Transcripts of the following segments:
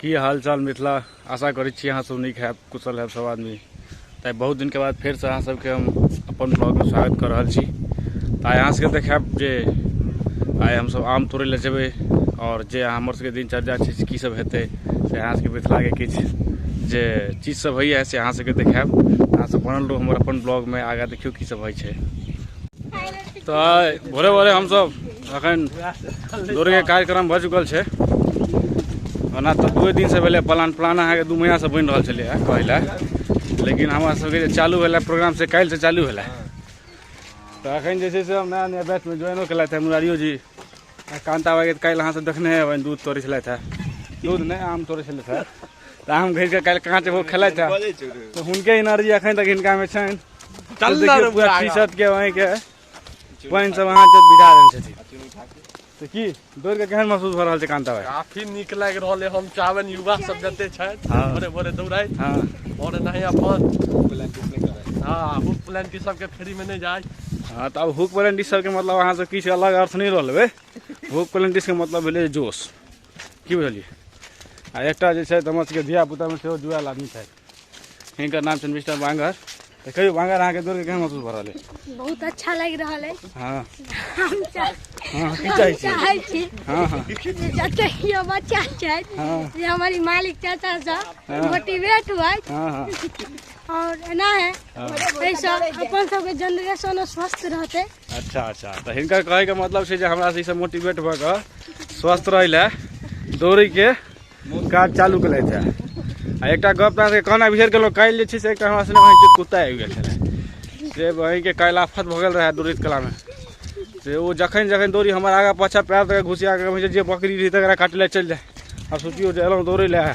की हाल चाल मिथिला आशा करै छी अहाँ सब नीक हैब कुशल हैब सब आदमी तऽ बहुत दिनके बाद फेरसँ अहाँ सबके हम अपन ब्लॉगमे स्वागत कऽ रहल छी तऽ आइ अहाँ सबके देखायब जे आइ हमसब आम तोड़ै लए जेबै आओर जे हमर सबके दिनचर्या छै से की सब हेतै से अहाँ सबके मिथिलाके किछु जे चीज सब होइए से अहाँ सबके देखायब अहाँ सब बनल रहू हमर अपन ब्लॉगमे आगाँ देखियौ की सब होइ छै तऽ भोरे भोरे हमसब अखन दौड़के कार्यक्रम भऽ चुकल छै ओना तऽ दुए दिनसँ भेलै प्लान प्लान अहाँके दू महीनासँ बनि रहल छलै हँ कहै लए लेकिन हमरा सबके जे चालू भेलै प्रोग्राम से काल्हिसँ चालू भेलै तऽ अखन जे छै से हम नया नया बैचमे ज्वाइनो केलथि हँ मुरारियो जी आ कान्ता बाइके तऽ काल्हि अहाँसब देखने हेबै दूध तोड़ै छलथि हँ दूध नहि आम तोड़ै छलथि हँ तऽ आम घसि कऽ काल्हि काँच एगो खेलथि हँ तऽ हुनके एनर्जी अखन तक हिनकामे छनि चल देखियौ पूरा टी शर्ट के वहीं के पानि सब अहाँ जब बिदा देने छथिन तऽ की दौड़ के केहन महसूस भऽ रहल छै कांता भाई काफी नीक लागि रहल है हम चाहबनि युवा सब जते छथि हाँ। भोरे भोरे दौड़ाइ हँ और नहीं अपन हाँ बुक प्लान की सबके फ्री में नहीं जाए हँ तऽ अब हुक प्लेंटिस सबके मतलब अहाँ सब किछु अलग अर्थ नहि रहल बे हुक प्लेंटिस के मतलब भेलै जोश की बुझलियै आ एकटा जे छै तऽ हमर सबके धिया पुतामे सेहो जुआल आदमी छथि हिनकर नाम छनि मिस्टर बांगर तऽ कहियो बांगर अहाँके दौड़के केहन महसूस भऽ रहल है बहुत अच्छा लागि रहल है हँ हम चाह- हँ की चाहै छी चाहै छी हँ हँ जे जते यो बच्चा छथि हँ। जे हमर ई मालिक चाचा सब मोटिवेट हुए हँ हँ और एना है एहिसँ अपन सबके जनरेशनो स्वस्थ रहतै अच्छा अच्छा तऽ हिनकर कहैके मतलब छै जे हमरा से मोटिवेट भऽ कऽ स्वस्थ रहै लए दौड़ैके काज चालू केलथि छै आ एकटा गप तऽ अहाँके कहना बिसरि गेलहुँ काल्हि जे छै से एकटा हमरा सने वहीँ कुत्ता आबि गेल छलै से वहीँके काल्हि आफत भऽ गेल रहए दौड़ैत कलामे से ओ जखन जखन दौड़ी हमर आगाँ पाछाँ पएर तक घुसिया कऽ जे बकरी रहै तकरा काटले चलि जाय आ सोचियौ जे एलहुँ दौड़ै लए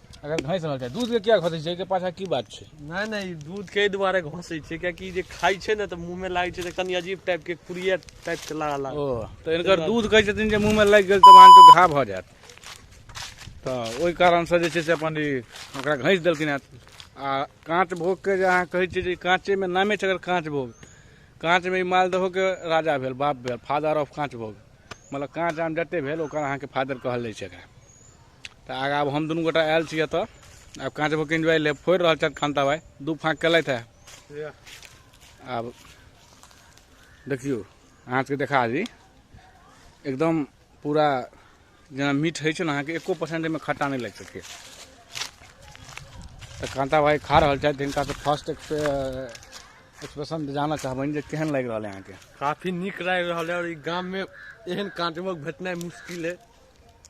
अगर घसि रहल छै दूधके किया घसै छै एहिके पाछा की बात छै नहि नहि ई दूधके एहि दुआरे घसै छै कियाकि जे खाइ छै ने तऽ मुँहमे लागै छै तऽ कनि अजीब टाइपके कुरिया टाइपके लागऽ लागल ओ तऽ इनकर दूध कहै छथिन जे मुँहमे लागि गेल तऽ अहाँके घा भऽ जायत तऽ ओहि कारणसँ जे छै से अपन ई ओकरा घसि देलखिन हेँ आ काँच भोगके जे अहाँ कहै छियै जे काँचेमे नामे छै अगर काँच भोग काँचमे ई मालदहोके राजा भेल बाप भेल फादर ऑफ काँच भोग मतलब काँच आम जतेक भेल ओकर अहाँके फादर कहल जाइ छै एकरा तऽ आगा आब हम दुनू गोटा आयल छी एतऽ आब काँच भोग एंजॉय ले फोड़ि रहल छथि खान्ता भाई दू फाँक केलथि है आब देखियौ अहाँ सबके देखा दी एकदम पूरा जेना मीठ होइ छै ने अहाँके एको परसेंट एहिमे खट्टा नहि लागि सकैए तऽ कान्ता भाई खा रहल छथि हिनका तऽ फर्स्ट एक्सप्रेशन जानऽ चाहबनि जे केहन लागि रहल है अहाँके काफी नीक लागि रहल है और ई गाम में एहन काँचबोक भेटनाइ मुश्किल है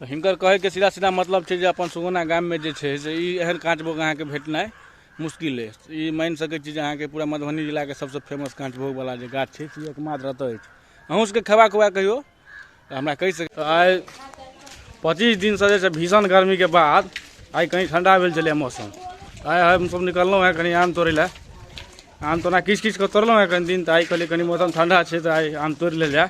तऽ हिनकर कहैके सीधा सीधा मतलब छै जे अपन सुगौना गाममे जे छै से ई एहन काँचभोग अहाँके भेटनाइ मुश्किल अछि ई मानि सकै छी जे अहाँके पूरा मधुबनी जिलाके सबसँ फेमस काँचभोगवला जे गाछ छै से एकमात्र एतऽ अछि अहूँ सबके खेबाक हुए कहियो तऽ हमरा कहि सकै तऽ आइ पच्चीस दिनसँ जे छै भीषण गर्मीके बाद आइ कनि ठण्डा भेल छलै मौसम आइ हमसभ निकललहुँ हेँ कनि आम तोड़ै लए आम तोना किछु किछु कऽ तोड़लहुँ हेँ कनि दिन तऽ आइ कहलियै कनि मौसम ठण्डा छै तऽ आइ आम तोड़ि लेल जाय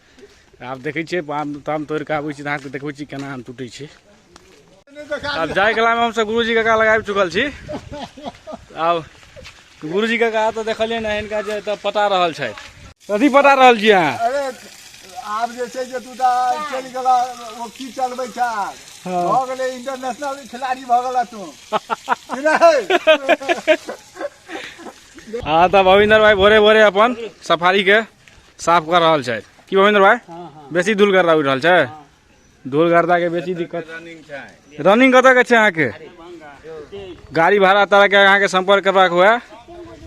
आब देखै छियै आम ताम तोड़ि कऽ आबै छी तऽ अहाँके देखबै छी केना आम टूटै छै आब जाय कलामे हमसभ गुरुजी काका लग आबि चुकल छी आब गुरुजी काका तऽ देखलियै ने हिनका जे एतऽ पटा रहल छथि कथी पटा रहल छी अहाँ अरे आब जे छै जे तू तऽ चलि गेला ओ की चलबै छै आब हँ। भऽ गेलै इंटरनेशनल खिलाड़ी भऽ गेला तू कि नहि? हाँ तब अविंदर भाई भोरे भोरे अपन सफारी के साफ कर रहल छै की भूपेंद्र भाई हाँ हाँ बेसी धूल गर्दा उड़ि रहल छै धूल गर्दा के बेसी दिक्कत रनिंग छै रनिंग कतऽ के छै अहाँके गाड़ी भाड़ा तरह के अहाँके संपर्क करबाक हुए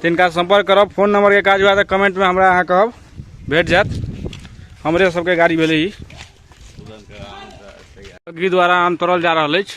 तऽ इनका संपर्क करब फोन नंबर के काज हुए तऽ कमेंट में हमरा अहाँ कहब भेट जायत हमरे सबके गाड़ी भेलै ई तुरंत आराम से तैयार अग्री द्वारा आम तोड़ल जा रहल अछि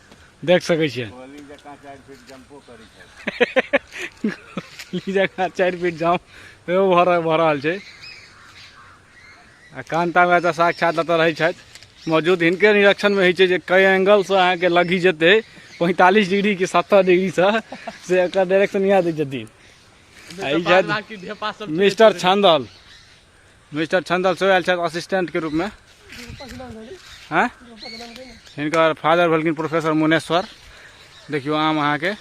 देख सकै छियै जगह चारि फीट जाम एहो भऽ रहल भऽ रहल छै आ कान्तामे एतऽ साक्षात एतऽ रहै छथि मौजूद हिनके निरीक्षणमे होइ छै जे कई एंगलसँ अहाँके लगी जेतै पैंतालिस डिग्री कि सत्तर डिग्रीसँ से एकर डायरेक्शन इएह दै छथिन आ ई छथि मिस्टर छान्दल मिस्टर छंदल सेहो आयल छथि असिस्टेंटके रूपमे आँय हिनकर फादर भेलखिन प्रोफेसर मुनेश्वर देखियौ आम अहाँके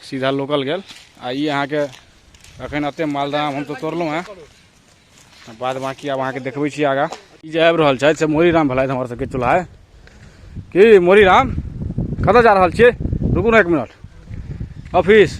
सीधा लोकल गेल आ ई अहाँके एखन एतेक मालदह आम हम तऽ तोड़लहुँ हेँ आ बाद बाँकी आब अहाँके देखबै छी आगाँ ई जे आबि रहल छथि से मोरीराम भेलथि हमर सबके चूल्हा की मोरीराम कतऽ जा रहल छियै रुकू ने एक मिनट ऑफिस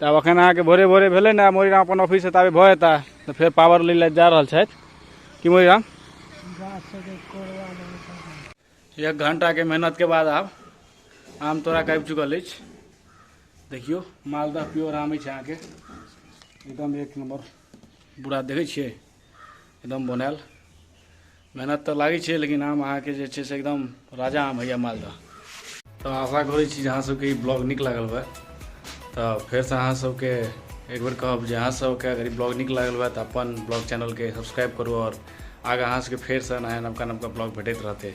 तऽ आब अखन अहाँके भोरे भोरे भेलै ने मोरीराम अपन ऑफिस से ताबे भऽ जेता तऽ फेर पावर लै लए जा रहल छथि कि मोरीराम एक घंटाके मेहनतके बाद आब आम तोड़ा कऽ आबि चुकल अछि देखियौ मालदह प्योर आम अछि अहाँके एकदम एक नम्बर बुरा देखै छियै एकदम बनायल मेहनत तऽ लागै छै लेकिन आम अहाँके जे छै से एकदम राजा आम होइए मालदह तऽ आशा करै छी जे अहाँसभके ई ब्लॉग नीक लागल हुए तऽ फेरसँ अहाँसभके एक बेर कहब जे अहाँसभके अगर ई ब्लॉग नीक लागल हुए तऽ अपन ब्लॉग चैनलके सब्सक्राइब करू आओर आगाँ अहाँसभके फेरसँ नया नवका नवका ब्लॉग भेटैत रहतै